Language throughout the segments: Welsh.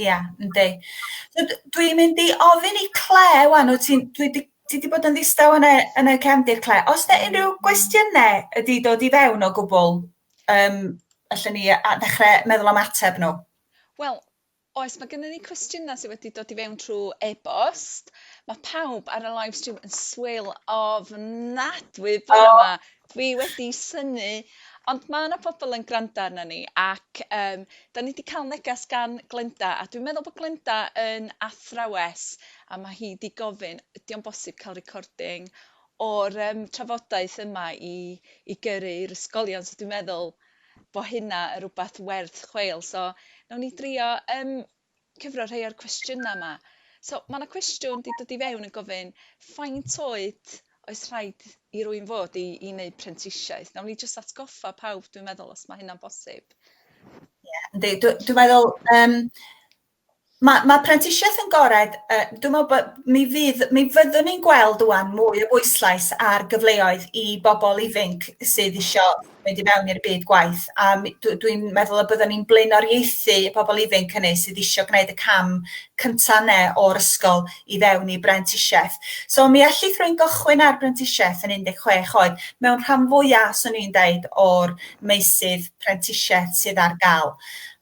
Ia, yndi. So d- dwi'n mynd i ofyn i Claire ŵan, wyt ti'n dwi 'di ti 'di bod yn ddistaw yn y yn y cefndir Claire. O's 'na unryw gwestiyne wedi dod i fewn o gwbwl yym allen ni a- ddechre meddwl am ateb nhw? Wel, oes, mae gennym ni cwestiynau sydd wedi dod i fewn trwy e-bost. Mae pawb ar y live stream yn swil ofnadwy bore 'ma. Dwi wedi synnu ond ma' 'na pobol yn granda arnon ni ac yym 'dan ni 'di ca'l neges gan Glenda a dwi'n meddwl bo' Glenda yn athrawes a ma' hi 'di gofyn ydi o'n bosib ca'l recording o'r yym trafodaeth yma i i gyrru i'r ysgolion so dwi'n meddwl bo' hynna yn rwbath werth chweil so nawn ni drio yym cyfro rhai o'r cwestiynau yma. So, mae yna cwestiwn wedi dod i fewn yn gofyn faint oed oes rhaid i rwy'n fod i i wneud prentisiaeth? Nawn ni jyst atgoffa pawb, dwi'n meddwl, os mae hynna'n bosib. Ie, yndi. Dw- Dwi'n meddwl, um, mae, mae prentisiaeth yn gored, uh, dwi'n meddwl bod mi, fydd, mi fyddwn ni'n gweld wwan mwy o bwyslais ar gyfleoedd i bobl ifanc sydd eisiau mynd i fewn i'r byd gwaith a mi- dw- dwi'n meddwl y byddwn ni'n blaenoriaethu y pobl ifanc hynny sydd eisiau gwneud y cam cynta' yne o'r ysgol i fewn i brentisiaeth. So mi allith rwy'n gychwyn ar brentisiaeth yn 16 oed mewn rhan fwyaf, swn i'n deud, o'r meysydd prentisiaeth sydd ar gael.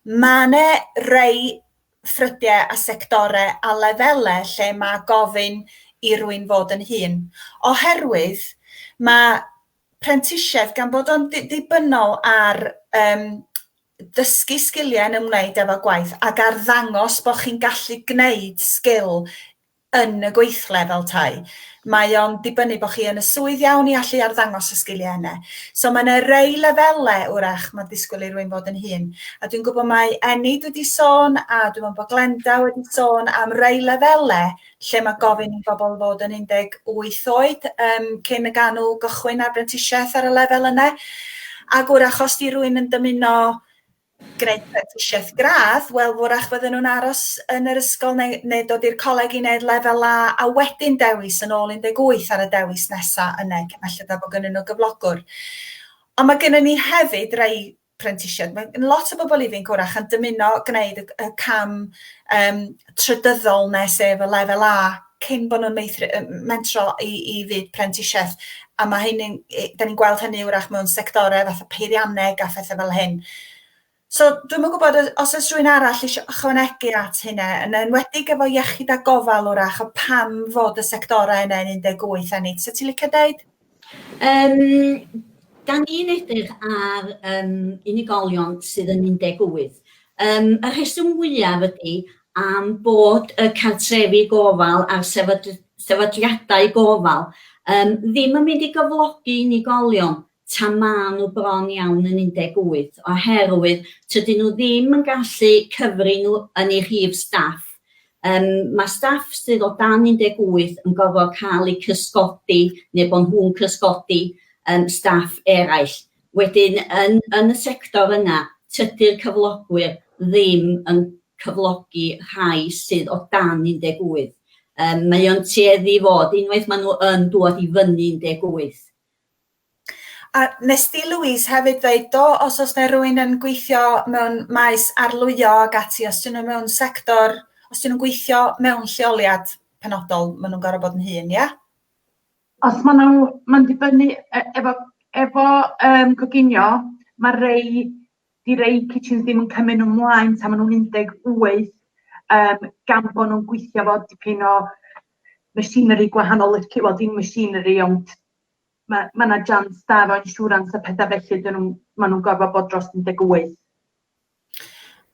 Mae yna rei ffrydiau a sectorau a lefelau lle mae gofyn i rwy'n fod yn hun, oherwydd mae prentisiaeth gan bod o'n ddibynnol ar um, dysgu sgiliau yn ymwneud efo gwaith ac ar ddangos bod chi'n gallu gwneud sgil yn y gweithle fel tai. Mae o'n dibynnu bod chi yn y swydd iawn i allu arddangos y sgiliau yna. So mae yna rei lefelau wrach mae disgwyl i rwy'n fod yn hun. A dwi'n gwybod mae Enid wedi sôn a dwi'n meddwl bod Glenda wedi sôn am rei lefelau lle mae gofyn i bobl fod yn 18 oed um, cyn y ganw gychwyn ar brentisiaeth ar y lefel yna. Ac wrach os di rwy'n yn dymuno gwneud prentisiaeth gradd, wel fwrach fydden nhw'n aros yn yr ysgol neu, neu dod i'r coleg i wneud lefel A a wedyn dewis yn ôl 18 ar y dewis nesaf yna, felly da bod gennyn nhw gyflogwr. Ond mae gennym ni hefyd rai prentisiaid. Mae gen lot o bobl ifanc wrach yn dymuno gwneud y, y cam um, trydyddol nes sef y lefel A cyn bod nhw'n meithri, mentro i, i fyd prentisiaeth. A mae hynny'n, da ni'n gweld hynny wrach mewn sectorau fath o peirianneg a phethau fel hyn. So, dwi'n mwyn gwybod os oes rhywun arall eisiau ychwanegu at hynna, yn enwedig efo iechyd a gofal wrach, o pam fod y sectorau yna yn 18 a nid. So, ti'n licio dweud? Yym, da ni'n edrych ar um, unigolion sydd yn 18. Um, y rheswm fwyaf ydy am bod y cartrefi gofal a'r sefydliadau gofal um, ddim yn mynd i gyflogi unigolion ta maen nhw bron iawn yn 18, oherwydd tydyn nhw ddim yn gallu cyfri nhw yn ei rhif staff Yym, ma' staff sydd o dan 18 yn gorfod cael eu cysgodi neu bod nhw'n cysgodi yym staff eraill. Wedyn yn yn y sector yna, tydi'r cyflogwyr ddim yn cyflogi rhai sydd o dan 18. Yym mae o'n tueddu i fod, unwaith maen nhw yn dŵad i fyny 18, A nes di Louise hefyd ddeud do os oes yna rwy'n yn gweithio mewn maes arlwyo ac ati os dyn nhw mewn sector, os dyn nhw'n gweithio mewn lleoliad penodol maen nhw'n gorfod bod yn hŷn, ia? Os maen nhw, mae'n dibynnu e- efo efo yym coginio mae rei di rei kitchens ddim yn cymryd nhw mlaen tan maen nhw'n 18 yym gan bod nhw'n gweithio fo dipyn o machinery gwahanol lici- wel dim machinery ond ma' ma' 'na jans da efo insurance a petha felly 'dyn nhw'n ma' nhw'n gorfod bod dros 18.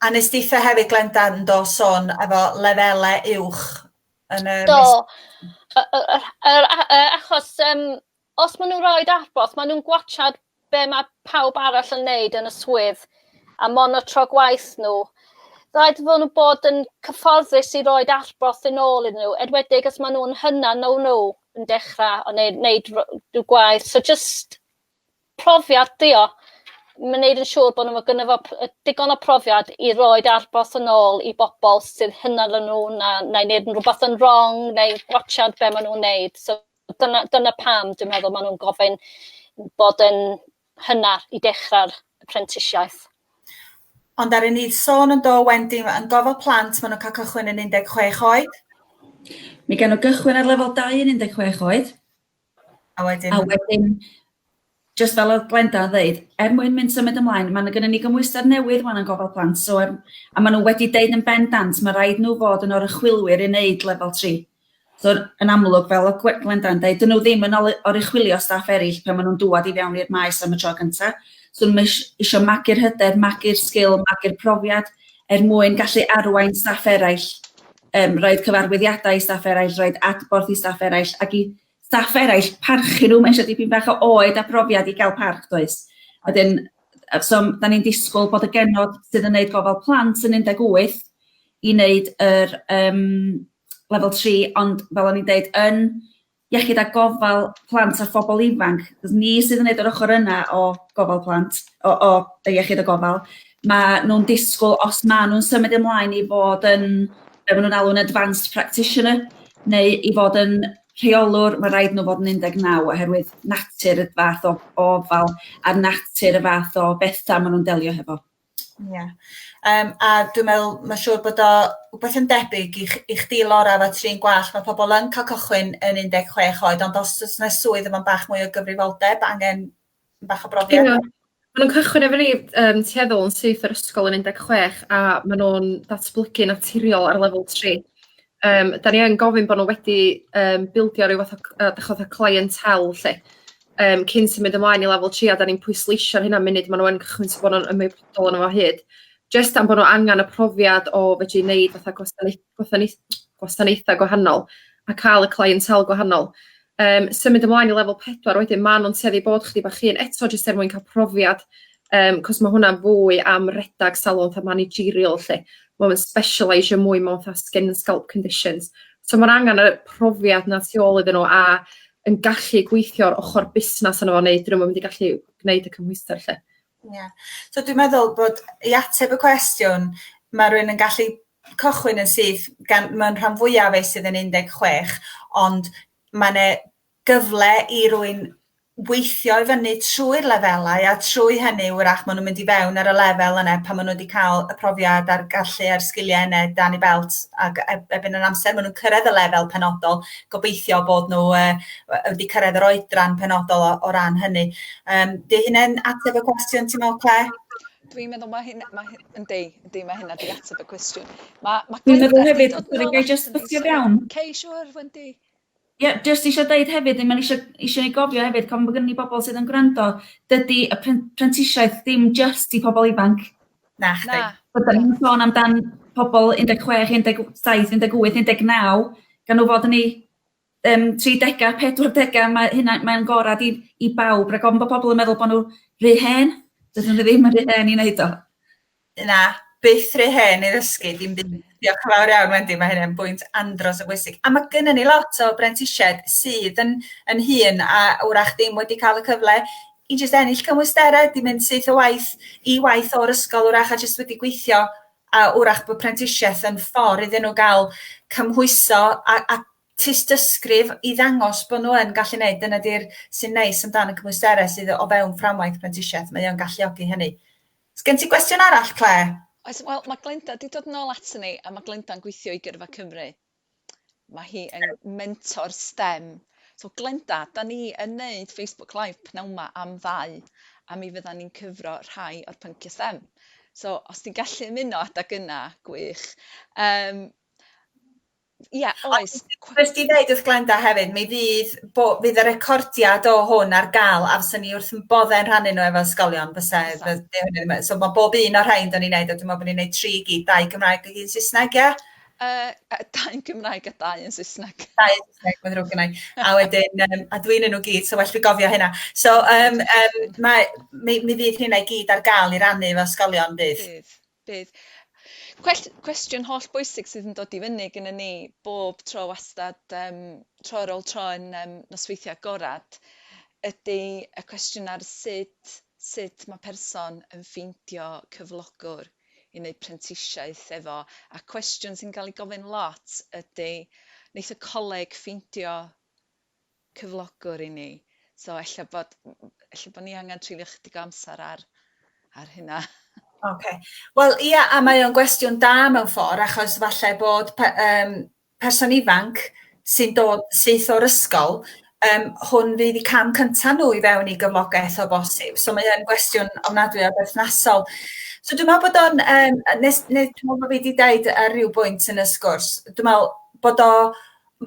A nes deitha hefyd Glenda yn do sôn efo lefele uwch yn y... Do. Yr achos um, os maen nhw'n rhoi adborth, maen nhw'n gwachad be mae pawb arall yn neud yn y swydd a monotro gwaith nhw. Rhaid fod nhw'n bod yn cyfforddus i roed adborth yn ôl iddyn nhw, edwedig os maen nhw'n hynna no nhw. yn dechra o neu neud r- rhyw gwaith so jyst profiad 'di o. Ma' neud yn siŵr bo' n'w ma' gynno fo p- yy digon o profiad i roid adborth yn ôl i bobol sydd hyna na nw na neu neud yn rwbath yn rong neu gwatsiad be' ma' nw'n neud so dyna dyna pam dwi'n meddwl ma' nw'n gofyn bod yn cynnar i dechrau'r prentisiaeth. Ond ar un idd sôn yn do Wendy ma yn gofal plant ma nhw'n cael cychwyn yn 16 oed. Mae gen nhw gychwyn ar lefel dau yn 16 oed. A wedyn? A wedyn jyst fel oedd Glenda yn ddeud, er mwyn mynd symud ymlaen, mae gennym ni gymhwyster newydd wan yn gofal plant, so er, a maen nhw wedi deud yn bendant, mae rhaid nhw fod yn orychwylwyr i wneud lefel 3. So yn amlwg, fel oedd Gwe- Glenda'n deud, 'dyn nhw ddim yn ol- oruchwylio staff eraill pan maen nhw'n dŵad i fewn i'r maes am y tro cyntaf. So nhw'm eis- isio magu'r hyder, magu'r sgil, magu'r profiad er mwyn gallu arwain staff eraill, yym roid cyfarwyddiadau i staff eraill, roid adborth i staff eraill, ac i staff eraill parchu nhw, mae eisiau dipyn bach o oed a profiad i gael parch, does? A wedyn, yy so m- 'dan ni'n disgwyl bod y genod sydd yn wneud gofal plant yn 18 i wneud yr yym lefel 3 ond fel o'n i'n deud yn iechyd a gofal plant a phobl ifanc, achos ni sydd yn neud yr ochr yna o gofal plant, o, o y iechyd a gofal, mae nhw'n disgwyl os ma' nhw'n symud ymlaen i fod yn, be maen nhw'n alw'n advanced practitioner, neu i fod yn rheolwr, mae rhaid nhw fod yn 19 oherwydd natur y fath o ofal a natur y fath o bethau maen nhw'n delio hefo. Ie yym a dwi'n meddwl ma' siŵr bod o wbeth yn debyg i ch- i chdi Lora efo trin gwallt ma' pobol yn ca'l cychwyn yn un deg chwech oed ond os o's 'na swydd efo bach mwy o gyfrifoldeb angen bach o brofiad. Ia ma' nw'n cychwyn efo ni yym tueddol yn syth o'r ysgol yn un deg chwech a ma' nw'n datblygu naturiol ar lefel tri. Yym 'dan ni yn gofyn bo' nw wedi yym bildio ryw fath o c- yy 'dych ch'od y clientelle 'lly yym cyn symud ymlaen i lefel tri a 'dan ni'n pwysleisio hynna munud ma' nw yn cychwyn so bo' nw'n ymwybodol o'no fo o hyd jyst am bo' nw angan y profiad o fedru neud fatha gwasanaeth- gwasanaeth- gwasanaetha' gwahanol a ca'l y clientelle gwahanol. Yym symud ymlaen i lefel pedwar wedyn ma' nw'n tueddu i bod chydig bach hŷn eto jyst er mwyn ca'l profiad yym 'c'os ma' hwnna'n fwy am redag salwch a managerial 'lly ma' o'n specialeisio mwy mewn 'tha skin and scalp conditions so ma'r angan y profiad 'na tu ôl iddyn n'w a yn gallu gweithio'r ochor busnas yno fo neu 'dyn nw'm yn mynd i gallu gneud y cymhwyster 'lly. Ie. So dwi'n meddwl bod i ateb y cwestiwn, mae rhywun yn gallu cychwyn yn syth, gan mae'n rhan fwyaf ei sydd yn 16, ond mae'n e gyfle i rwy'n weithio i fyny trwy'r lefelau a trwy hynny wrach maen nhw'n mynd i fewn ar y lefel yna pan maen nhw wedi cael y profiad a'r gallu a'r sgiliau yna dan ei belt ac e- ebyn yr amser maen nhw'n cyrraedd y lefel penodol gobeithio bod nhw yy wedi cyrraedd yr oedran penodol o, o ran hynny. Yym, dy hynna'n ateb y cwestiwn ti'n meddwl, Claire? Dwi'n meddwl mae hyn, mae hyn, yn deu, yn deu, mae hynna di ateb y cwestiwn. Mae, mae Dwi'n meddwl hefyd, dwi'n gael just ffio iawn. Cei, siwr, Wendy. Ie, yeah, jyst eisiau dweud hefyd, mae'n eisiau, eisiau ei gofio hefyd, cofn bod gen i bobl sydd yn gwrando, dydy y prentisiaeth ddim jyst i pobl ifanc. Na, chdi. Byddwn ni'n sôn amdan pobl 16, 17, 18, 19, gan nhw fod yn ei yym tridega, pedwardega, mae hynna mae'n gorad i i bawb rag ofn bo' pobol yn meddwl bo' nhw rhy hen, dydyn nhw ddim yn rhy hen i wneud o. Na, byth rhy hen i ddysgu dim byd. Diolch yn fawr iawn Wendy, mae hynny'n bwynt andros o bwysig. A mae gennym ni lot o brentisiaid sydd yn yn hŷn a wrach ddim wedi cael y cyfle i jyst ennill cymwysterau, 'di mynd syth o waith i waith o'r ysgol wrach a jyst wedi gweithio a wrach bod prentisiaeth yn ffordd iddyn nhw gael cymhwyso a, a tystysgrif i ddangos bod nhw yn gallu gwneud. Dyna di'r sy'n neis amdano cymwysterau sydd o fewn fframwaith prentisiaeth. Mae o'n galluogi hynny. Os gen ti gwestiwn arall, Claire? Oes, wel, mae Glenda wedi dod yn ôl ato ni, a mae Glenda'n gweithio i Gyrfa Cymru. ma' hi yn mentor stem. So Glenda, 'dan ni yn neud Facebook Live pnawn 'ma am ddau, a mi fyddan ni'n cyfro rhai o'r pyncie stem. So os ti'n gallu ymuno adag yna, gwych. Um, Ia, oes. Wnes ti ddeud wrth Glenda hefyd, mi fydd, bo, fydd y recordiad o hwn ar gael, a fyswn ni wrth yn boddau yn rhannu nhw efo ysgolion, fysa, so mae bob un o'r rhain da ni'n neud, a dwi'n meddwl bod ni'n neud tri gyd, dau Gymraeg a un Saesneg, ie? Yy yy dau yn Gymraeg a dau yn Saesneg. Dau yn Saesneg, mae'n ddrwg gynnau. A wedyn, um, a dwi'n yn nhw gyd, so well fi gofio hynna. So, um, um, mae, mi, mi fydd hynna i gyd ar gael i rannu efo ysgolion bydd? Bydd, bydd. Cwell, cwestiwn holl bwysig sydd yn dod i fyny gyda ni bob tro wastad, um, tro ar ôl tro yn um, nosweithiau gorad, ydy y cwestiwn ar sut, sut mae person yn ffeindio cyflogwr. yn eu prentisiaeth efo a cwestiwn sy'n cael ei gofyn lot ydy wneith y coleg ffeindio cyflogwr i ni? So ella bod ella bod ni angen treulio chydig o amser ar ar hynna. Oce. Wel ia a mae o'n gwestiwn da mewn ffordd achos falle bod um, person ifanc sy'n dod syth o'r ysgol, um, hwn fydd y cam cyntaf nhw i fewn i gyflogaeth o bosib. So mae hyn gwestiwn ofnadwy o berthnasol. So dwi'n meddwl bod o'n, um, nes, nes, dwi'n meddwl bod fi wedi dweud ar ryw bwynt yn y sgwrs, dwi'n meddwl bod o,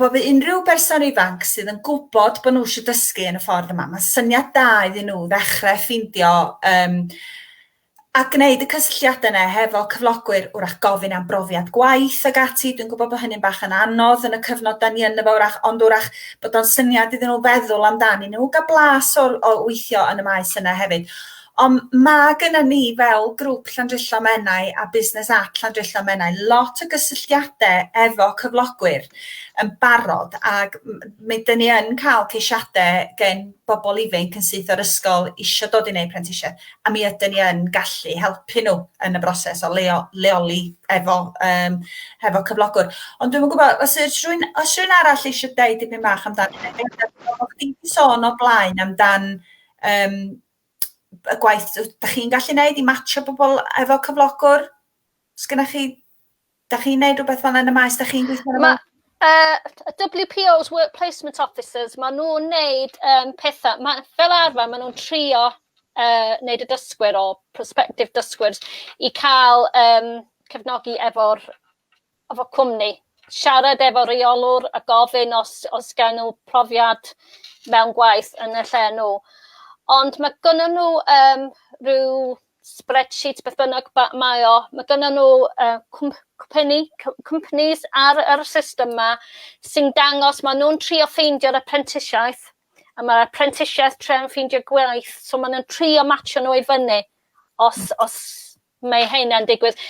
bod fi unrhyw berson ifanc sydd yn gwybod bod nhw eisiau dysgu yn y ffordd yma, mae syniad da iddyn nhw ddechrau ffeindio um, a gwneud y cysylltiadau yna hefo cyflogwyr, wrach gofyn am brofiad gwaith ac ati, dwi'n gwybod bod hynny'n bach yn anodd yn y cyfnod da ni yn efo wrach, ond wrach bod o'n syniad iddyn nhw feddwl amdani nhw, gael blas o, o weithio yn y maes yna hefyd. Ond mae gyda ni fel grŵp Llandrillo Menai a Business at Llandrillo Menai lot o gysylltiadau efo cyflogwyr yn barod ac mae dyn ni yn cael ceisiadau gen bobl ifanc yn syth o'r ysgol eisiau dod i wneud prentisiaeth a mi ydyn ni yn gallu helpu nhw yn y broses o leo, leoli efo, um, efo cyflogwr. Ond dwi'n gwybod, os yw'r rhywun, os rhywun arall eisiau deud dipyn bach amdan, o chdi sôn o blaen amdan um, y gwaith, da chi'n gallu neud i matcho bobl efo cyflogwr? Sgynna chi Dach chi'n neud rhywbeth fel yn y maes? Dach chi'n gweithio yn y maes? Uh, WPOs, Work Placement Officers, maen nhw'n neud um, pethau, ma, fel arfer maen nhw'n trio uh, neud y dysgwyr o prospective dysgwyr i cael um, cefnogi efo'r efo cwmni. Siarad efo reolwr a gofyn os, os gael nhw profiad mewn gwaith yn y lle nhw. Ond mae gynnyn nhw um, rhyw spreadsheet beth bynnag mae o, mae gynnyn nhw uh, cwmpeni, companies ar yr system yma sy'n dangos, maen nhw'n trio ffeindio'r apprentisiaeth, a mae'r apprentisiaeth tre'n ffeindio gwaith, so maen nhw'n trio matcho nhw i fyny, os, os mae hynna'n digwydd.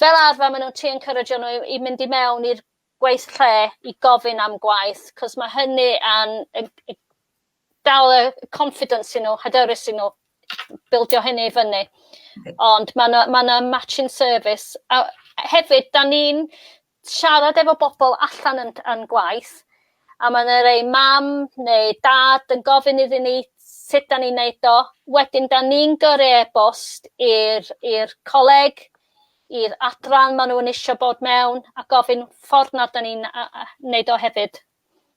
Fel arfer, maen nhw'n trio encourage nhw i, i mynd i mewn i'r gwaith lle i gofyn am gwaith cos ma' hynny yn yn yn dal y confidence i n'w hyderus i n'w bildio hynny i fyny. Ond ma' 'na ma' 'na matching service a hefyd 'dan ni'n siarad efo bobol allan yn yn gwaith a ma' 'na rei mam neu dad yn gofyn iddyn ni sut 'dan ni'n neud o wedyn 'dan ni'n gyrru e-bost i'r i'r coleg i'r adran ma' nhw'n isio bod mewn a gofyn ffordd na da ni'n neud o hefyd.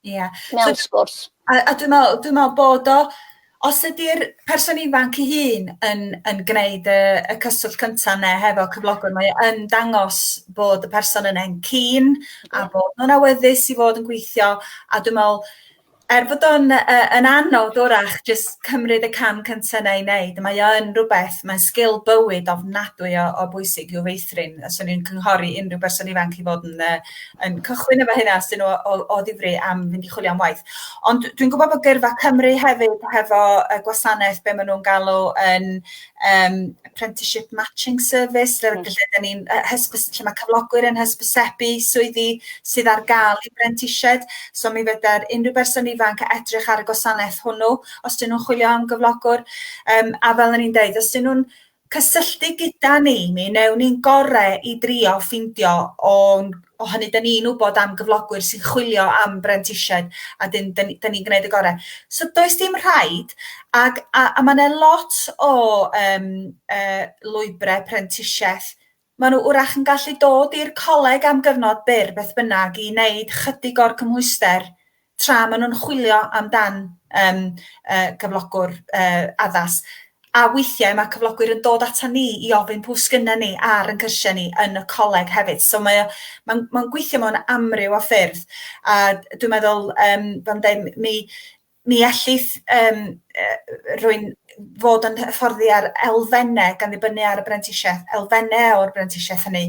Ia. Mewn so, sgwrs. A, a dwi'n meddwl, dwi'n meddwl bod o, os ydy'r person ifanc ei hun yn, yn gwneud y, y cyswllt cyntaf yna hefo cyflogwr, mae yn dangos bod y person yn e'n cyn a bod nhw'n awyddus i fod yn gweithio a dwi'n meddwl Er bod o'n yy yn anodd 'w'rach jyst cymryd y cam cynta 'na i neud, mae o yn rwbeth, mae'n sgil bywyd ofnadwy o o bwysig i'w feithrin. A 'swn i'n cynghori unryw berson ifanc i fod yn yy yn cychwyn efo hynna os 'dyn nhw o o ddifri am fynd i chwilio am waith. Ond dwi'n gwbod bod Gyrfa Cymru hefyd hefo y gwasanaeth be' ma' nw'n galw yn um, apprenticeship matching service, lle, mm. lle dyn ni'n hysbys, lle mae cyflogwyr yn hysbysebu swyddi sydd ar gael i brentisied. So mi fydda'r unrhyw berson ifanc edrych ar y gwasanaeth hwnnw, os dyn nhw'n chwilio am gyflogwr. Um, a fel ni'n dweud, os dyn nhw'n cysylltu gyda ni, mi newn ni'n gorau i drio ffindio o'n o hynny, da ni'n wybod am gyflogwyr sy'n chwilio am brentisiaid a dyn, da, ni, da ni'n gwneud y gorau. So does dim rhaid, ag, a, a mae yna lot o um, uh, lwybrau prentisiaeth maen nhw wrach yn gallu dod i'r coleg am gyfnod byr beth bynnag i wneud chydig o'r cymhwyster tra maen nhw'n chwilio amdan um, uh, cyflogwr uh, addas. A weithiau mae cyflogwyr yn dod ata ni i ofyn pwy sgynna ni ar yn cyrsiau ni yn y coleg hefyd. So mae mae'n mae gweithio mewn amryw o ffyrdd. A dwi'n meddwl, um, fel dweud, mi, mi ellith um, rwy'n fod yn hyfforddi ar elfennau gan ddibynnu ar y brentisiaeth, elfennau o'r brentisiaeth hynny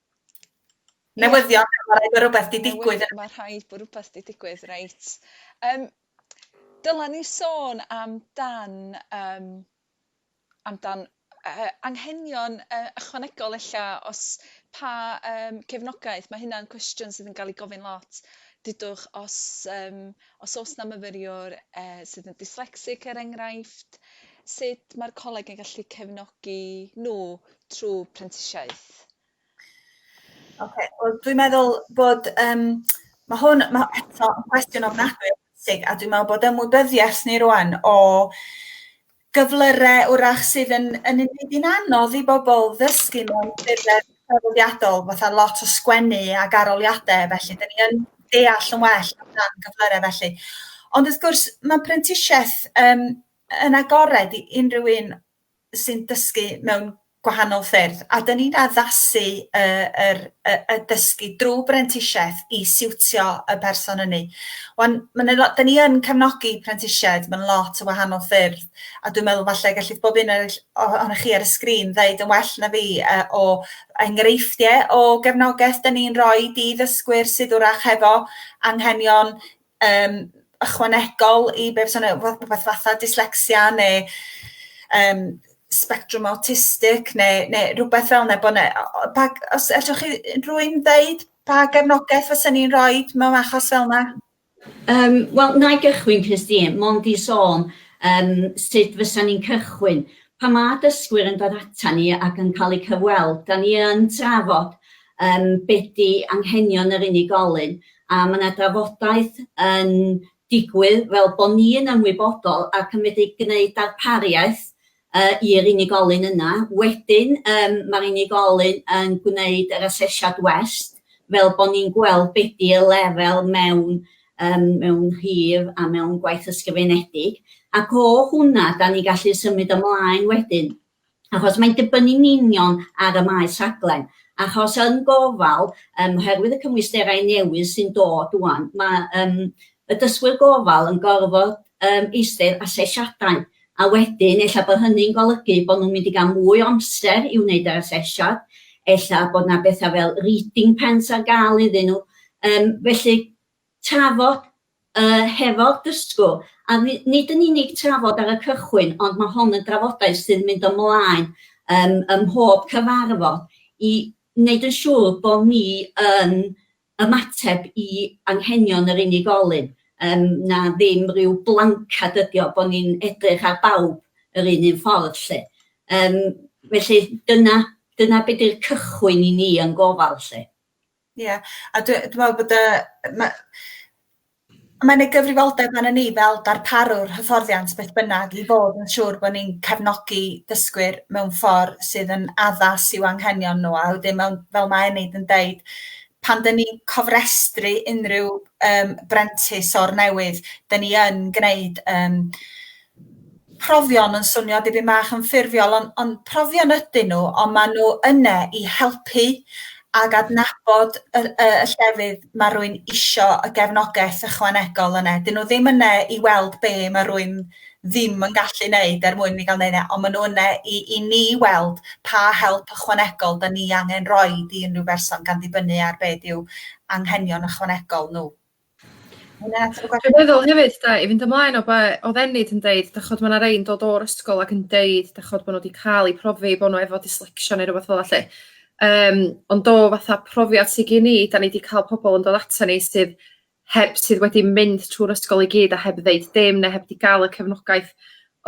Newyddion, mae rhaid bod rhywbeth di digwydd. Mae rhaid bod rhywbeth di digwydd, reit. Um, dyla ni sôn am dan, um, am dan uh, anghenion uh, ychwanegol ella, os pa um, cefnogaeth, mae hynna'n cwestiwn sydd yn cael ei gofyn lot. Dydwch, os, um, os oes na myfyriwr uh, sydd yn dyslexic er enghraifft, sut mae'r coleg yn gallu cefnogi nhw trwy prentisiaeth? Ok, wel dwi'n meddwl bod, um, mae hwn, mae eto yn cwestiwn ofnadwy bwysig, a dwi'n meddwl bod ymwybyddiaeth ni rwan o gyflyrau wrach sydd yn, yn unig yn anodd i bobl ddysgu mewn ffurfau traddodiadol, fatha lot o sgwennu ac aroliadau, felly dyn ni yn deall yn well amdan gyflyrau felly. Ond wrth gwrs, mae prentisiaeth um, yn agored i unrhyw un sy'n dysgu mewn gwahanol ffyrdd, a 'dyn ni'n addasu y yr y y dysgu drw brentisieth i siwtio y person ynny. Wan ma' 'na lot... 'Dyn ni yn cefnogi prentisiaid mewn lot o wahanol ffyrdd a dwi'n meddwl falle gellith bob un o'r o- ohonoch chi ar y sgrin ddeud yn well na fi yy o enghreifftie o gefnogaeth 'dyn ni'n roid i ddysgwyr sydd 'w'rach hefo anghenion um, ychwanegol i beth sy'n rhywbeth fatha dyslexia neu um, spectrum autistic neu, neu rhywbeth fel yna. Bod ne, pa, os allwch chi rwy'n ddeud pa gefnogaeth fysa ni'n rhoi mewn achos fel yna? Um, Wel, na i gychwyn, Christine, mond i sôn um, sut fysa ni'n cychwyn. Pa mae dysgwyr yn dod ata ni ac yn cael eu cyfweld, da ni yn trafod yym be di anghenion yr unigolyn a ma' 'na drafodaeth yn digwydd fel bo' ni yn ymwybodol ac yn medru gneud darpariaeth yy i'r unigolyn yna. Wedyn yym ma'r unigolyn yn gwneud yr asesiad west fel bo' ni'n gweld be di y lefel mewn yym mewn rhif a mewn gwaith ysgrifenedig ac o hwnna 'dan ni'n gallu symud ymlaen wedyn achos mae'n dibynnu'n union ar y maes rhaglen, achos yn gofal, um, oherwydd y cymwysterau newydd sy'n dod wan, mae um, y dysgwyr gofal yn gorfod um, eistedd asesiadau, a wedyn efallai bod hynny'n golygu bod nhw'n mynd i gael mwy o amser i wneud yr asesiad, efallai bod yna bethau fel reading pens ar gael iddyn nhw, um, felly trafod yy hefo'r dysgwr, a ni- nid yn unig trafod ar y cychwyn ond ma' hon yn drafodaeth sy'n mynd ymlaen yym ym mhob cyfarfod i wneud yn siŵr bo' ni yn ymateb i anghenion yr unigolyn yym na ddim ryw blancad ydi o bo' ni'n edrych ar bawb yr un un ffordd 'lly. Yym felly dyna dyna be' 'di'r cychwyn i ni yn gofal 'lly. Ie a dwi dwi me'wl bod y yy ma' mae'n ei gyfrifoldeb arnon ni fel darparwr hyfforddiant beth bynnag i fod yn siŵr bo' ni'n cefnogi dysgwyr mewn ffor sydd yn addas i'w anghenion n'w a wedyn mewn fel ma' Enid yn deud pan 'dyn ni'n cofrestru unryw yym brentis o'r newydd 'dyn ni yn gneud yym profion yn swnio dipyn bach yn ffurfiol ond, on, profion ydyn nhw ond maen nhw yna i helpu ac adnabod y, y, y llefydd mae rwy'n isio y gefnogaeth ychwanegol yna. Dyn nhw ddim yna i weld be mae rwy'n ddim yn gallu wneud er mwyn ni gael wneud e, ond maen nhw yna i, i ni weld pa help ychwanegol da ni angen roi i unrhyw berson gan ddibynnu ar beth yw anghenion ychwanegol nhw. Dwi'n meddwl hefyd da, i fynd ymlaen o be oedd Enid yn deud, da chod mae yna rei'n dod o'r ysgol ac yn deud da chod bod nhw wedi cael eu profi bod nhw efo dyslexia neu rhywbeth fel allu. Um, ond do fatha profiad sydd gen i, da ni wedi cael pobl yn dod ato ni sydd heb sydd wedi mynd trwy'r ysgol i gyd a heb ddeud dim neu heb wedi gael y cefnogaeth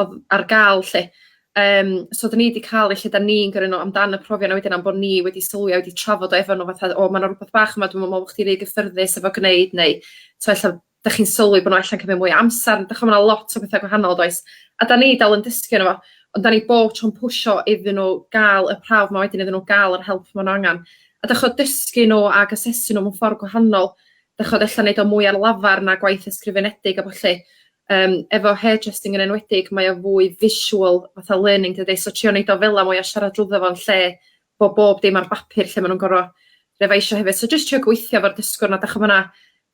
odd ar ga'l 'lly yym so 'dyn ni 'di ca'l y lle 'dan ni'n gyrru nw amdan y profion a wedyn am bo' ni wedi sylwi a wedi trafod o efo nw fatha o ma' 'na rwbath bach yma dwi'm yn me'wl bo' chdi rhy gyffyrddus efo gneud neu t'o' ella 'dach chi'n sylwi bo' nw ella'n cymyd mwy o amsar dych ch'mo' ma' 'na lot o betha gwahanol does? A 'dan ni dal yn dysgu yno fo ond 'dan ni bob tro'n pwsho iddyn nw ga'l y prawf 'ma wedyn iddyn nw ga'l yr help ma' n'w angan. A d'ych ch'od dysgu nw ag asesu nw mewn ffor gwahanol d'ych ch'od ella neud o mwy ar lafar na gwaith ysgrifenedig a ballu. Yym efo hair trusting yn enwedig mae o fwy visual fatha learning dydi so trio neud o fela mwy a siarad drwddo fo yn lle bo' bob dim ar bapur lle ma' nw'n gor'o' refaisio hefyd so jyst trio gweithio efo'r dysgwr 'na 'dach ch'mo' ma' 'na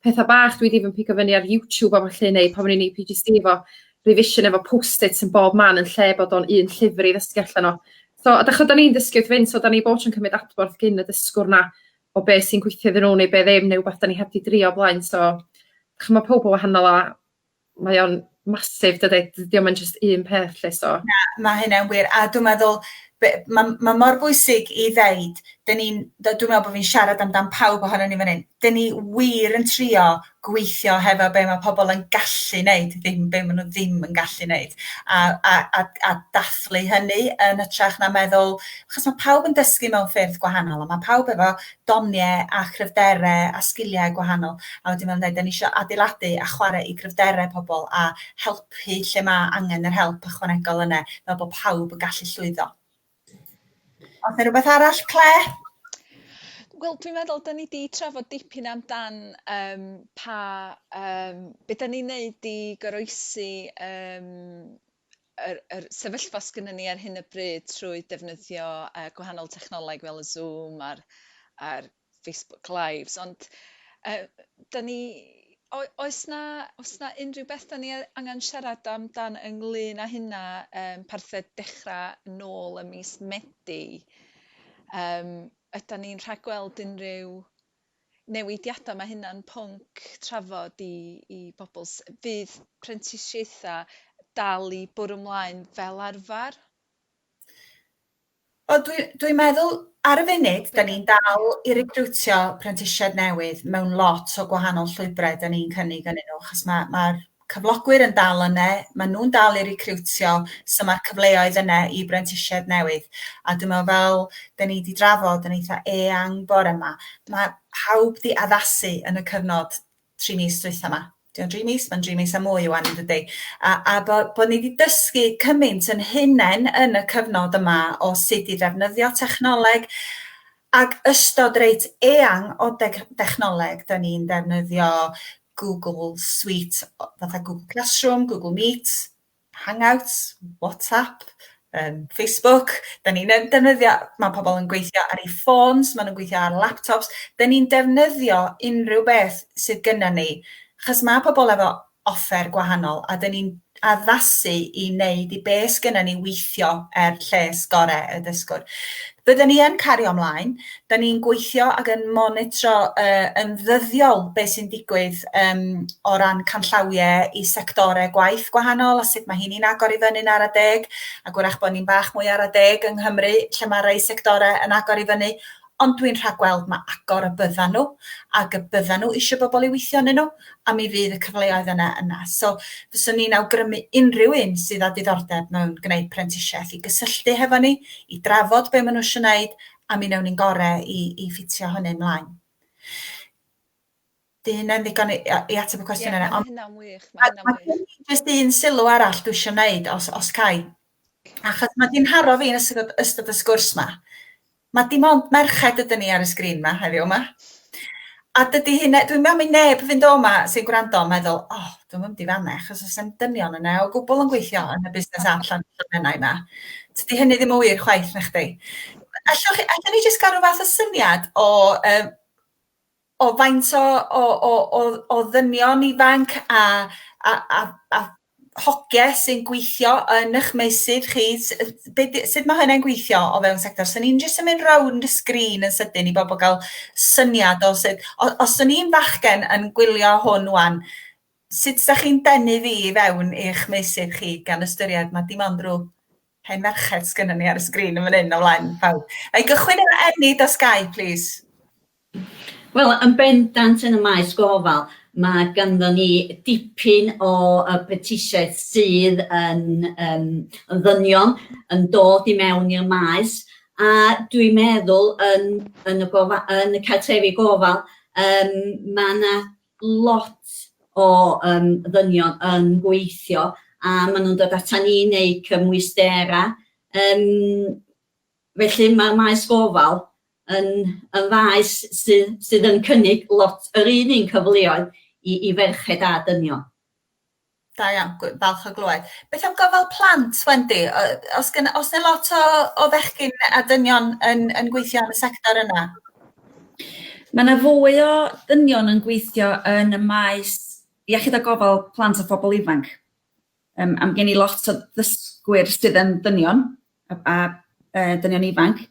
petha bach dwi 'di even pigo fyny ar YouTube a ballu neu pan o'n i'n Ee Pee Gee See efo revision efo post-its yn bob man yn lle bod o'n un llyfr i ddysgu allan o. So a 'dach ch'od 'dan ni'n dysgu wrth fynd so 'dan ni bob tro'n cymryd adborth gin y dysgwr 'na o be sy'n gweithio iddyn nhw neu be ddim neu wbath 'dan ni heb 'di drio o blaen so ch'mo' ma' powb yn wahanol a mae o'n massive dydi? D- 'di o'm yn jyst un peth 'lly so... Na ma' hynna'n wir a dwi meddwl be- ma' ma' mor bwysig i ddeud 'dyn ni'n d- dwi me'wl bo' fi'n siarad amdan pawb ohonon ni fan 'yn 'dyn ni wir yn trio gweithio hefo be' ma' pobol yn gallu neud ddim be' ma' nw ddim yn gallu neud a a a a dathlu hynny yn hytrach na meddwl achos ma' pawb yn dysgu mewn ffyrdd gwahanol a ma' pawb efo donie a chryfdere a sgilie gwahanol a wedyn ma' nw'n deud 'dan ni isio adeiladu a chware i gryfdere pobol a helpu lle ma' angen yr help ychwanegol yne fel bo' pawb yn gallu llwyddo. Oes yna rhywbeth arall, Clare? Wel dwi'n meddwl 'dyn ni 'di trafod dipyn amdan yym pa yym be' 'dan ni'n neud i goroesi yym yr yr sefyllfa sgynnen ni ar hyn o bryd trwy defnyddio yy gwahanol technoleg fel y Zoom a'r a'r Facebook lives ond yy 'da ni... o- oes 'na oes 'na unrhyw beth 'da ni yy angan siarad am dan ynglŷn â hynna yym parthed dechra nôl ym mis Medi yym ydan ni'n rhagweld unrhyw newidiada ma' hynna'n pwnc trafod i i bobol s- fydd prentisiaetha dal i bwrw 'mlaen fel arfar? Wel dwi dwi'n meddwl ar y funud 'dan ni'n dal i recriwtio prentisiaid newydd mewn lot o gwahanol llwybrau 'dan ni'n cynnig ynnyn nhw achos ma' ma'r cyflogwyr yn dal yne, ma' nhw'n dal i recriwtio so ma'r cyfleoedd yne i brentisiaid newydd a dwi'n meddwl fel 'dan ni 'di drafod yn eitha eang bore 'ma ma' pawb 'di addasu yn y cyfnod tri mis dwytha ma. Di o'n dri mis? Mae'n dri mis a mwy o wan yn dydy. A, a bod, bod ni wedi dysgu cymaint yn hunain yn y cyfnod yma o sut i ddefnyddio technoleg ac ystod reit eang o deg, dechnoleg. Da ni'n defnyddio Google Suite, fatha Google Classroom, Google Meet, Hangouts, WhatsApp, yym Facebook, 'dan ni'n yn defnyddio... Ma' pobol yn gweithio ar 'u ffôns, ma' nw'n gweithio ar laptops, 'dan ni'n defnyddio unryw beth sydd gynnon ni, 'chos ma' pobol efo offer gwahanol a 'dan ni'n addasu i neud i be' sgynnon ni weithio er lles gore' y dysgwr. Bydden ni yn cario ymlaen, da ni'n gweithio ac yn monitro uh, yn ddyddiol beth sy'n digwydd um, o ran canllawiau i sectorau gwaith gwahanol a sut mae hynny'n agor i fyny'n ara deg, ac wrach bod ni'n bach mwy ara deg yng Nghymru lle mae rhai sectorau yn agor i fyny, ond dwi'n rhagweld mae agor y byddan nhw ac y byddan nhw eisiau bobl i weithio yn nhw a mi fydd y cyfleoedd yna yna. So fyswn i'n awgrymu unrhyw un sydd â diddordeb mewn gwneud prentisiaeth i gysylltu hefo ni, i drafod be maen nhw eisiau gwneud, a mi wnewn ni'n gorau i, i ffitio hynny ymlaen. Dy hynna'n ddigon i, i ateb y cwestiwn yna. Ie, mae hynna'n wych, mae hynna'n wych. Mae jyst un sylw arall dwi eisiau gwneud, os, os cai. Achos mae di'n haro fi yn ystod, ystod y sgwrs ma. Mae dim ond merched ydyn ni ar y sgrin ma heddiw yma. A dydy hyn, dwi'n meddwl mi neb fynd o yma sy'n gwrando yn meddwl, o, oh, dwi'n mynd i fanna, achos os yw'n dynion yna o gwbl yn gweithio yn y busnes app llan llannau yma. Dydy hynny ddim yn wir chwaith na chdi. Allwch chi, allwn ni jyst gael rhyw fath o syniad o um, o faint o o o o o ddynion ifanc a a a a hogie sy'n gweithio yn eich meysydd chi s- yy be' 'di sut ma' hynna'n gweithio o fewn sector? 'San ni'n jyst yn mynd rownd y sgrîn yn sydyn i bobl ga'l syniad o sut o- os o'n i'n fachgen yn gwylio hwn ŵan sut 'sa chi'n denu fi i fewn i'ch meysydd chi gan ystyried ma' dim ond rw hen ferched sgynnon ni ar y sgrîn yn fan 'yn o flaen pawb. Nâi gychwyn efo Enid os gai plîs. Wel, yn bendant yn y maes gofal, mae ganddo ni dipyn o uh, brentisiaeth sydd yn, um, yn ddynion yn dod i mewn i'r maes, a dwi'n meddwl yn, yn, y, gofa, yn y cartrefi gofal, um, mae yna lot o um, ddynion yn gweithio a maen nhw'n dod atan ni neu cymwysterau. Um, felly mae'r maes gofal yn y faes sydd, sydd yn cynnig lot yr un un cyfleoedd i, i ferched a dynion. Da iawn, falch o glywed. Beth am gofal plant, Wendy? Os, gen, os yna lot o, o fechgyn a dynion yn, yn gweithio yn y sector yna? Mae yna fwy o dynion yn gweithio yn y maes iechyd a gofal plant a phobl ifanc. Um, am gen i lot o ddysgwyr sydd yn dynion, a a yy dynion ifanc,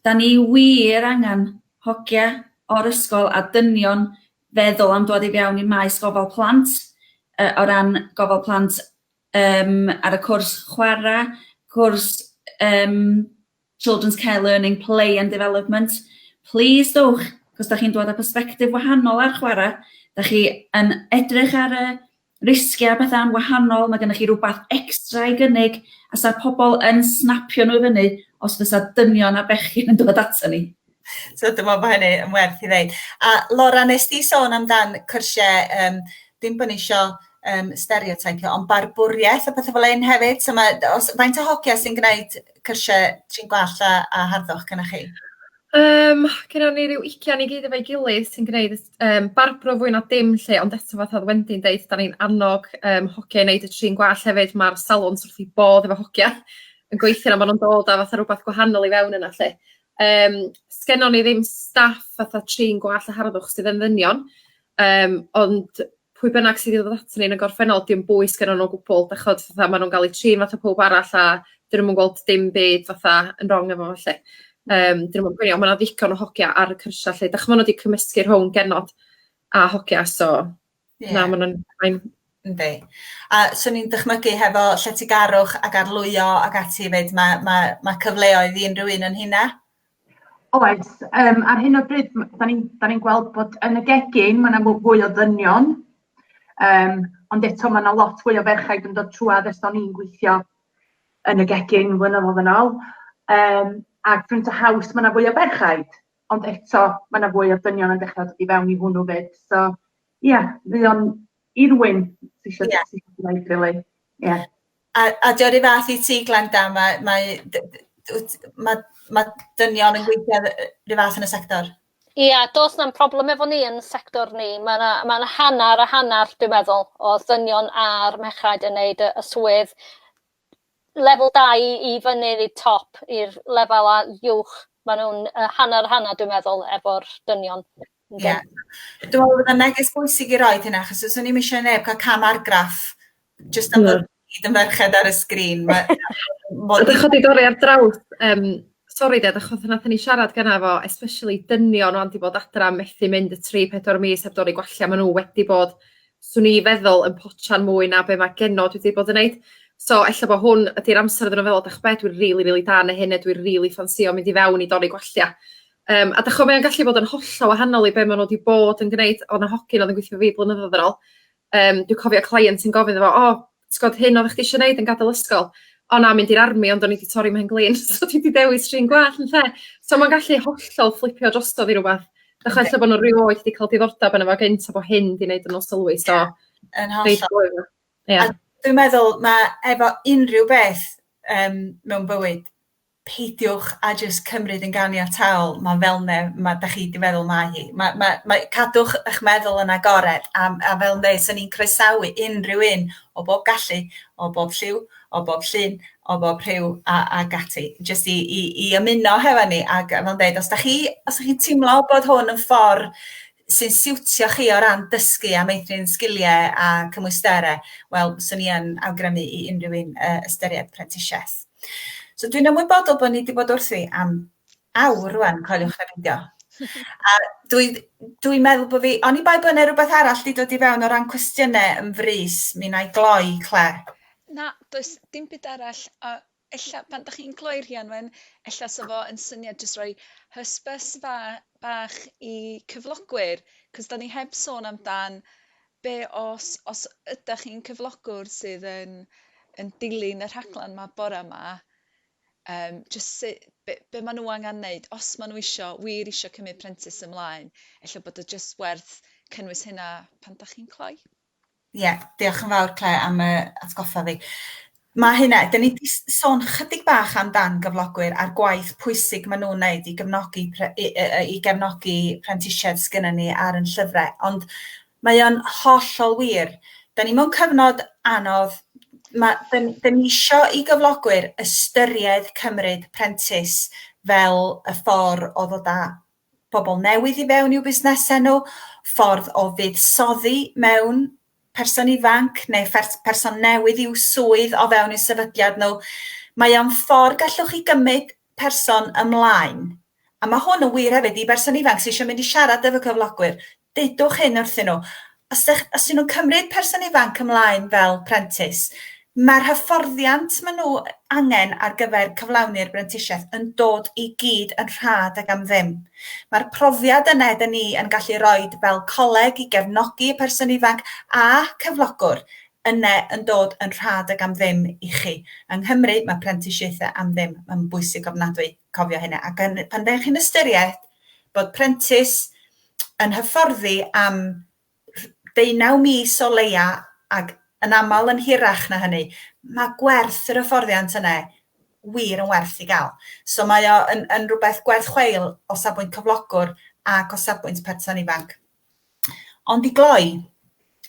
'dan ni wir angen hogia o'r ysgol a dynion feddwl am dŵad i fewn i maes gofal plant yy o ran gofal plant yym ar y cwrs chwara', cwrs yym children's care learning, play and development, plîs dowch 'c'os 'dach chi'n dŵad â persbectif wahanol ar chwara', 'dach chi yn edrych ar y Risgiau a pethau yn wahanol, mae gennych chi rywbeth extra i gynnig a 'sa'r pobl yn snapio nhw i fyny os fysa dynion a bechgyn yn dod ato ni? So dwi'n meddwl bod hynny yn werth i ddeud. A Laura, nes di sôn amdan cyrsiau, um, dim bod ni isio um, stereotypio, ond barbwriaeth a pethau fel un hefyd. So mae, os, faint o hogia sy'n gwneud cyrsiau trin gwall a, a harddwch gyda chi? Yym gynno ni ryw ugian i gyd efo'i gilydd sy'n gneud yym barbro fwy na dim 'lly ond eto fatha o'dd Wendy'n deud 'dan ni'n annog yym hogia i neud y trin gwallt hefyd ma'r salons wrth 'u bodd efo hogia yn gweithio 'na ma' nw'n dod a fatha rwbath gwahanol i fewn yna 'lly yym sgennon ni ddim staff fatha trin gwallt a harddwch sydd yn ddynion yym ond pwy bynnag sydd i ddod aton ni yn y gorffennol 'di o'm bwys gennyn nw o gwbwl dych ch'od fatha ma' nw'n ga'l 'u trin fatha powb arall a 'dyn nw'm yn gweld dim byd fatha yn rong efo fo 'lly. Yym 'dyn nw'm yn poeni on' ma' 'na ddigon o hogia ar y cyrsia 'lly 'dych ch'mo' ma' n'w 'di cymysgu rhwng genod a hogia so na ma' nw'n fine. Yndi. A swn i'n dychmygu hefo lletygarwch ac arlwyo ac ati 'fyd ma' ma' ma' cyfleoedd i unryw un o'n rheina. Oes, yym ar hyn o bryd m- 'dan ni'n 'dan ni'n gweld bod yn y gegin ma' 'na m- fwy o ddynion yym ond eto ma' 'na lot fwy o ferchaid yn dod trwadd ers o'n i'n gweithio yn y gegin flynyddodd yn ôl yym a print a haws ma' 'na fwy o ferchaid ond eto ma' 'na fwy o ddynion yn dechra dod i fewn i hwnnw 'fyd so ia mae o'n I'r wyn ti isio yeah. ti isio gwneud rili. Really. Yeah. A, a dio rhyw fath i ti Glenda, mae, mae, mae, mae dynion yn gweithio rhyw fath yn y sector? Ie, yeah, dos na'n problem efo ni yn sector ni. Mae yna ma hanner a hanner, dwi'n meddwl, o ddynion a'r mechrau yn neud y, y swydd lefel 2 i fyny i'r top, i'r lefel a uwch. Mae nhw'n uh, hanner hanner, dwi'n meddwl, efo'r dynion. Ie. Dwi'n meddwl bod o'n neges bwysig i roed hynna, achos os o'n i'm eisiau neb cael cam argraff jyst am bod hyd yn ferched ar y sgrin. Mae... Mae dy chodi dorri ar draws um, sori ded, achos yna ni siarad gyna fo, especially dynion o'n di bod adra methu mynd y 3-4 mis heb dorri gwella, maen nhw wedi bod, swn i feddwl, yn potsian mwy na be mae genno dwi wedi bod yn neud. So, ella bod hwn ydy'r amser iddyn nhw feddwl, dach be, dwi'n rili, really, really da neu hyn, neu dwi'n rili really ffansio mynd i fewn i dorri gwella. Yym a 'dych ch'o' mae o'n gallu bod yn hollol wahanol i be' ma' n'w 'di bod yn gneud o' 'na hogyn o'dd yn gwithio 'fo fi blynyddodd yn ôl yym dwi cofio cleient yn gofyn iddo fo o t'god hyn oddach chdi isio neud yn gadol ysgol o na mynd i'r army ond o'n i 'di torri 'mhen-glin so dwi 'di dewis trin gwallt ynde? So ma'n gallu hollol fflipio drosodd i rwbath dych ch'mod lle bo' n'w rioed 'di ca'l diddordab yno fo gynt a bo' hyn 'di neud n'w sylwi so... Yn hollol. ...ia. A dwi'n meddwl ma' efo unryw beth yym mewn bywyd peidiwch a jyst cymryd yn ganiataol ma' fel 'ne ma' 'dach chi 'di feddwl mae hi. Ma' ma' mae cadwch 'ych meddwl yn agored a m- a fel 'ne swn i'n croesawu unrhyw un o bob gallu o bob lliw o bob llun o bob rhyw a ag ati jyst i i i ymuno hefo ni ag a fel deud os 'dach chi os 'dach chi'n timlo bod hwn yn ffor sy'n siwtio chi o ran dysgu a meithrin sgiliau a cymwysterau, wel, fyswn i yn awgrymu i unrhyw un uh, ystyried prentisiaeth. So dwi'n ymwybodol bod ni wedi bod wrthi am awr rwan, coeliwch na beidio. A dwi'n dwi meddwl bod fi, oni bai bod yna rhywbeth arall wedi dod i fewn o ran cwestiynau yn frys, mi na i gloi, Claire. Na, does dim byd arall, a ella pan dach chi'n cloi rhian wen ella sa fo yn syniad jyst roi hysbys fa- bach i cyflogwyr 'c'os 'dan ni heb sôn am dan be' os os ydach chi'n cyflogwr sydd yn yn dilyn y rhaglan 'ma bora 'ma yym jyst su' be' be' ma' nw angan neud os ma' nw isio wir isio cymyd prentis ymlaen ella bod o jyst werth cynnwys hynna pan dach chi'n cloi. Ie, diolch yn fawr Claire am y atgoffa fi. Mae hynna, dyn ni wedi sôn chydig bach amdan gyflogwyr a'r gwaith pwysig maen nhw'n wneud i gefnogi, i, i gefnogi prentisiaid sgynny ni ar yn llyfrau, ond mae o'n hollol wir. Dyn ni mewn cyfnod anodd, mae, dyn, dyn ni eisiau i gyflogwyr ystyried cymryd prentis fel y ffordd o ddod â pobl newydd i fewn i'w busnesau nhw, ffordd o fuddsoddi mewn person ifanc neu person newydd i'w swydd o fewn i'w sefydliad nhw. Mae o'n ffordd gallwch chi gymryd person ymlaen. A mae hwn yn wir hefyd i berson ifanc sydd eisiau mynd i siarad efo cyflogwyr. Dudwch hyn wrthyn nhw, Os dych, os ydyn nhw'n cymryd person ifanc ymlaen fel prentis, mae'r hyfforddiant maen nhw angen ar gyfer cyflawni'r brentisiaeth yn dod i gyd yn rhad ac am ddim. Mae'r profiad yna ydyn ni yn gallu rhoi fel coleg i gefnogi y person ifanc a cyflogwr yna yn dod yn rhad ac am ddim i chi. Yng Nghymru mae prentisiaethau am ddim yn bwysig ofnadwy. cofio hynna. Ac yn, pan ddech chi'n ystyried bod prentis yn hyfforddi am deunaw mis o leia ac yn aml yn hirach na hynny, mae gwerth yr hyfforddiant yna wir yn werth i gael. So mae o yn, yn rhywbeth gwerth chweil o safbwynt cyflogwr ac o safbwynt person ifanc. Ond i gloi,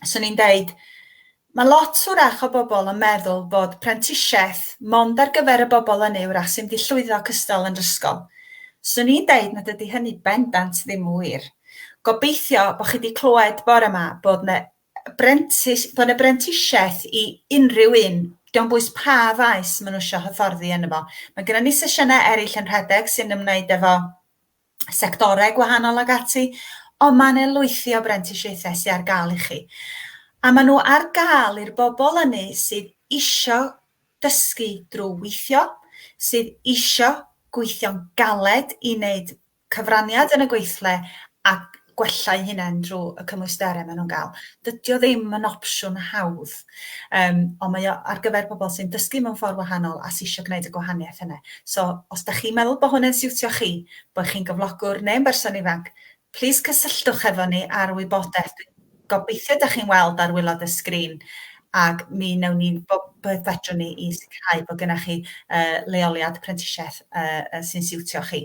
swn i'n deud, mae lot hwrach o bobl yn meddwl bod prentisiaeth mond ar gyfer y bobl ynny hwrach sy'n mynd llwyddo cystal yn yr ysgol. Swn i'n deud nad ydy hynny bendant ddim yn wir. Gobeithio bod chi wedi clywed bore yma bod yna brentis, bod yna brentisiaeth i unrhyw un, diolch yn bwys pa faes maen nhw eisiau hyfforddi yn efo. Mae gennym ni sesiynau eraill yn rhedeg sy'n ymwneud efo sectorau gwahanol ac ati, ond mae yna lwythi o brentisiaethau sydd ar gael i chi. A maen nhw ar gael i'r bobl ynni sydd isio dysgu drwy weithio, sydd isio gweithio'n galed i wneud cyfraniad yn y gweithle a gwella'u hunain drwy y cymwysterau maen nhw'n gael. Dydy o ddim yn opsiwn hawdd, um, ond mae o ar gyfer pobl sy'n dysgu mewn ffordd wahanol a sy'n eisiau gwneud y gwahaniaeth yna. So, os da chi'n meddwl bod hwn yn siwtio chi, bod chi'n gyflogwr neu'n berson ifanc, plis cysylltwch efo ni ar wybodaeth. Gobeithio da chi'n weld ar wylod y sgrin ac mi wnewn ni bob beth fedrwn ni i sicrhau bod gennych chi uh, leoliad prentisiaeth uh, sy'n siwtio chi.